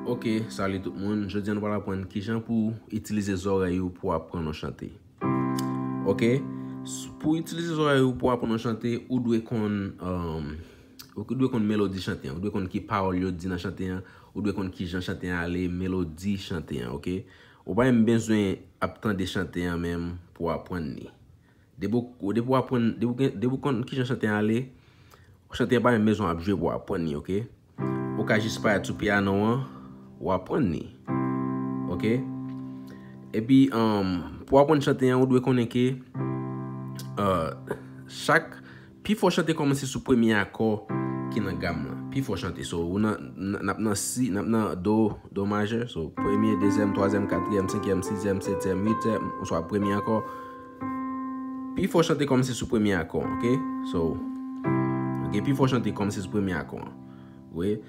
Ok, salut tout moun. Jodi an nou pral aprann kijan pou itilize zòrèy ou pou aprann yon chante. Ok, pou itilize zòrèy ou pou aprann yon chante, ou dwe konn ou dwe konn melodi chante an, ou dwe konn ki pawòl yo di nan chante an, ou dwe konn kijan chante an ale, melodi chante an, ok. Ou pa menm bezwen ap tande chante an menm pou aprann li. Depi w aprann, depi w konn kijan chante an ale, chante an pa menm bezwen w ap jwe pou w aprann li ok. Ou ka jis parèt sou piyano an, w aprann li. Ok. Epi, pou w aprann chante an, ou dwe konnen ke chak. Pi fò chante kòmanse sou premye akò ki nan gam lan. Pi fò chante. So, ou nan, n ap nan si, n ap nan do, do majè. So, premye, dezyèm, twazyèm, katriyèm, senkyèm, sizyèm, setyèm, uityèm, oswa premye akò. Pi fò chante kòmanse sou premye akò an, ok? So, ok, pi fò chante kòmanse sou premye akò an. Ou wè?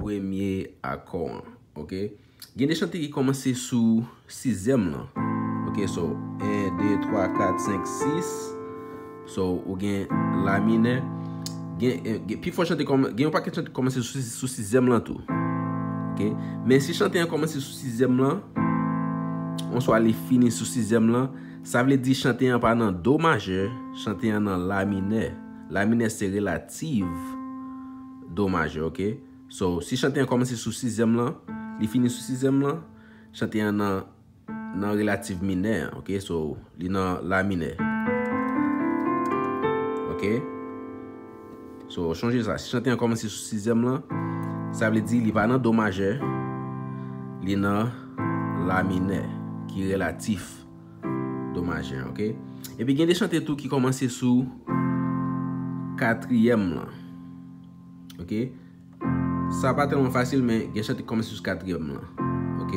Premye akò an. Ok. Gen de chante ki kòmanse sou sizyèm lan. Ok. So, 1, 2, 3, 4, 5, 6. So, ou gen la minè. Gen, gen, pi fò chante kòman, gen yon pakèt chante ki kòmanse sou sizyèm lan tou. Ok. Men si chante an kòmanse sou sizyèm lan, oswa li fini sou sizyèm lan, sa vle di chante an pa nan do majè, chante an nan la minè. La minè se relativ. Do majè ok So si chante an kòmanse sou sizyèm lan Li fini sou sizyèm lan Chante an nan Nan relativ minè ok So li nan la minè Ok So chonje sa si chante an kòmanse sou sizyèm lan Sa vle di li pa nan do majè Li nan la minè Ki relatif Do majè ok. Epi gen de chante tou ki komanse sou katriyèm lan. Ok. Sa pa telman fasil men gen chante ki komanse sou katriyèm lan. Ok.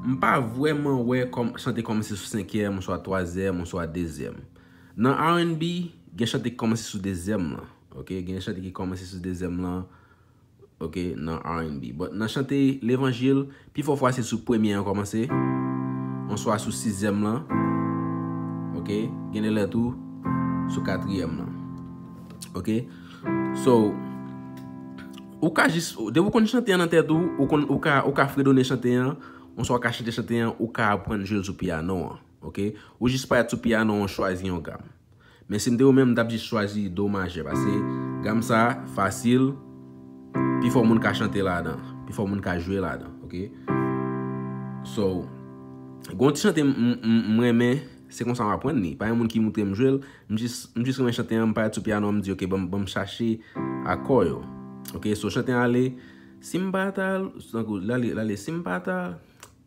M pa vwèman wè chante ki komanse sou senkyèm ou swa twazèm ou swa dezyèm. Nan RNB gen chante ki komanse sou dezyèm lan. Ok. Gen chante ki komanse sou dezyèm lan. ok nan RNB but nan chante levanjil pi fò fwa se sou premye an kòmanse oswa sou sizyèm lan ok gen de lè tou sou katriyèm lan ok so ou ka jis depi ou konn chante an nan tèt ou ou konn ou ka ou ka fredone chante an oswa ou ka chante chante an ou ka aprann jwe l sou piyano an ok ou jis parèt sou piyano an chwazi yon gam Men si m te ou menm m tap jis chwazi do majè pase gam sa fasil pifò moun ka chante ladan pifò moun ka jwe ladan ok so gon ti chante m renmen se konsa m aprann li pa gen moun ki moutre m jwe l m jis renmen chante an m pale sou pyano an m di ok banm chache akò yo ok so chante an ale si m pa ta tankou lale si m pa ta.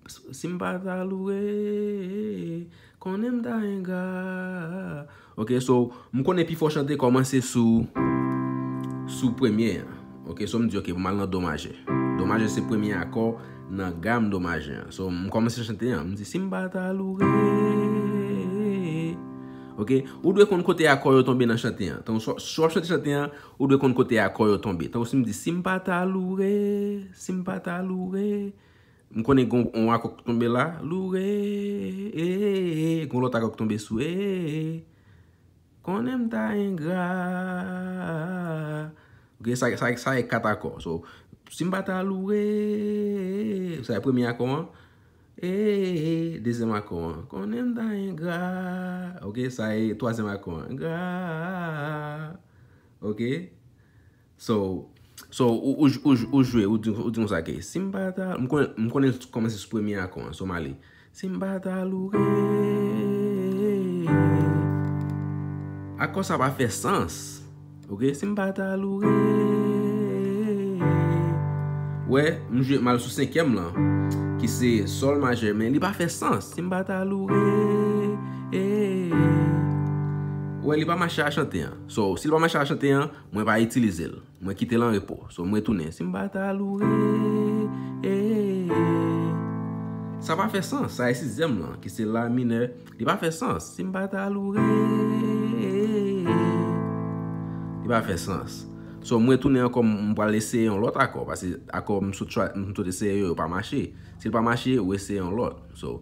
Si m pa ta loure, konnen m ta engra. Ok, so, m konnen pifò chante kòmanse sou, sou premye an. Ok, so m di ok, m al nan do majè. Do majè se premye akò nan gam do majè an. So, m kòmanse chante an, m di, si m pa ta loure. Ok, ou dwe konn kote akò yo tonbe nan chante an. Tan ou, si w ap chante chante an, ou dwe konn kote akò yo tonbe. Tan ou si m di, si m pa ta loure, si m pa ta loure. M konnen gon on akò k tonbe la, lou re ee, gon lòt akò k tonbe sou ee, konnen m ta engra ok sa sa e 4 akò so si m pa ta lou re ee sa e premye akò an ee dezyèm akò an konnen m ta engra ok sa e twazyèm akò an engra ok. So, so ou, ou, ou, ou jwe, ou di, ou di konsa ke, si m pa ta, m konnen, m konnen l kòmanse sou premye akò an, so m ale. Si m pa ta loure. Akò sa pa fè sans. Ok, si m pa ta loure. Ou wè, m jwe, m al sou senkyèm lan, ki se sòl majè, men li pa fè sans. Si m pa ta loure. Ou wè, li pa mache a chante an. So, si l pa mache a chante an. Mwen pa itilize l. Mwen kite l an repo. So m retounen. Si m pa ta loure eeee. Sa pa fè sans. Sa e sizyèm lan ki se la minè. Li pa fè sans. Si m pa ta loure eeee. Li pa fè sans. So m retounen ankò m pral eseye yon lòt akò. Pase akò m sot eseye yo yo pa mache. Si l pa mache ou eseye yon lòt. So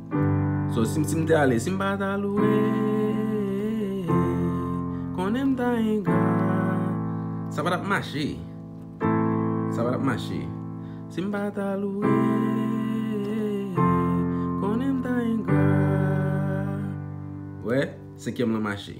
So si m te ale si m pa ta loure Konnen m ta engra Sa pa tap mache Sa pa tap mache Si m pa ta loure Konnen m ta engra Wè senkyèm lan mache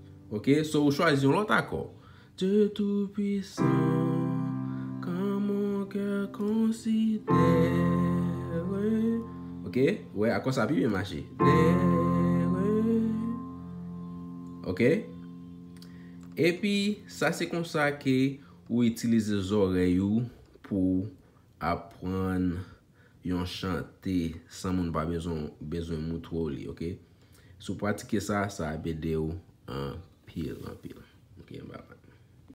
Ok so ou chwazi yon lot akò. Dieu tout puissant quand mon coeur considère Ok ou wè akò sa pi byen mache Ok Epi sa se konsa ke ou itilize zorèy ou pou aprann yon chante san moun pa bezwen moutro w li ok. Si w pratike sa, sa ap ede w anpil anpil.